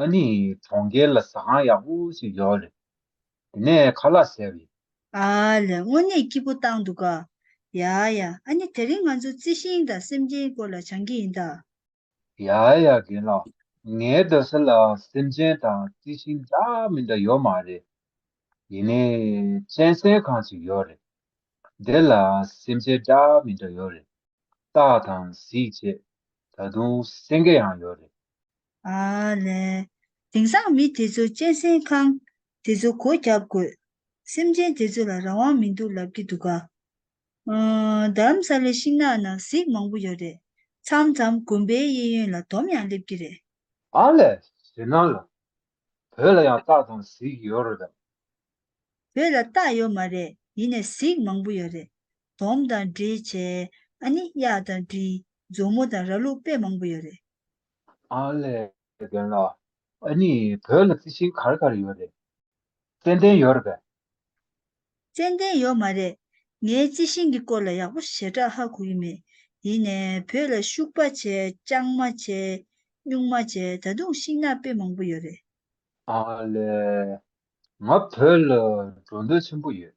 ཨ་ནི་གྲོང་ཁྱེར་ལ་ཟ་ཁང་ཡག་པོ་ཞིག་ཡོད་རེད། དེ་ནས་ཁ་ལག་བཟས་རེད། ཨ་ལས་དངོས་གནས་སྐྱིད་པོ་བཏང་འདུག་ག། ཡ་ཡ་ཨ་ནི་དེ་རིང་ང་ཚོ་རྩི་ཤིང་དང་སེམས་ཅན་སྐོར་ལ་བྱང་གི་ཡིན་ད། ཡ་ཡ་རྒན་ལགས་ངའི་རྡ་ས་ལ་སེམས་ཅན་དང་རྩི་ཤིང་འདྲ་མི་འདྲ་ཡོད་མ་རེད། ཡིན་ནའི་གཅན་གཟན་ཁང་ཞིག་ཡོད་རེད། དེ་ལ་སེམས་ཅན་འདྲ་མི་འདྲ་ཡོད་རེད། སྟག་དང་གཟིག་བཅས་ད་དུང་སེང་གེ་ཡང་ཡོད་རེད། ལན། དེང་སང་མི་དེ་ཚོ་གཅན་ཟན་ཁང། དེ་ཚོ་སྒོ་བརྒྱབ་དགོས། སེམས་ཅན་དེ་ཚོ་ལ་རང་དབང་མི་འདུག་ལབ་ཀྱི་འདུག་ག། དྷརམ་ས་ལའི་ཤིང་ནགས་ནང་གཟིག་མང་པོ་ཡོད་རེད། མཚམས་མཚམས་དགོན་པའི་གཡས་གཡོན་ལ་དོམ་ཡང་སླེབས་ཀྱི་རེད། ཨ་ལས། བྱེད་སྣང་ལ། བོད་ལ་ཡང་སྟག་དང་གཟིག་ཡོད་རེད་དམ། བོད་ལ་སྟག་ཡོད་མ་རེད་ཡིན་ནས་གཟིག་མང་པོ་ཡོད་རེད། དོམ་དང་འབྲི། བྱེད། ཨ་ནི། གཡག་དང་འབྲི། མཛོ་མོ་དང་ར་ལུག་དཔེ་མང་པོ་ཡོད་རེད། ཨ་ལས་དགོན་ལ་ཨ་ནི་བོད་ལ་རྩི་ཤིང་གར་གར་ཡོད་རེད། ཙནྡན་ཡོད་རེད་པས། ཙནྡན་ཡོད་མ་རེད། ངས་རྩི་ཤིང་གི་སྐོར་ལ་ཡག་པོ་ཞེ་དྲག་ཧ་གོ་གི་མེད། ཡིན་ནས་བོད་ལ་ཤུག་པ་བྱས་སྤྱང་མ་བྱས། སྨྱུག་མ་བྱས་ད་དུང་ཤིང་ནགས་དཔེ་མང་པོ་ཡོད་རེད། ཨ་ལས། ང་བོད་ལ་འགྲོ་འདོད་ཆེན་པོ་ཡོད།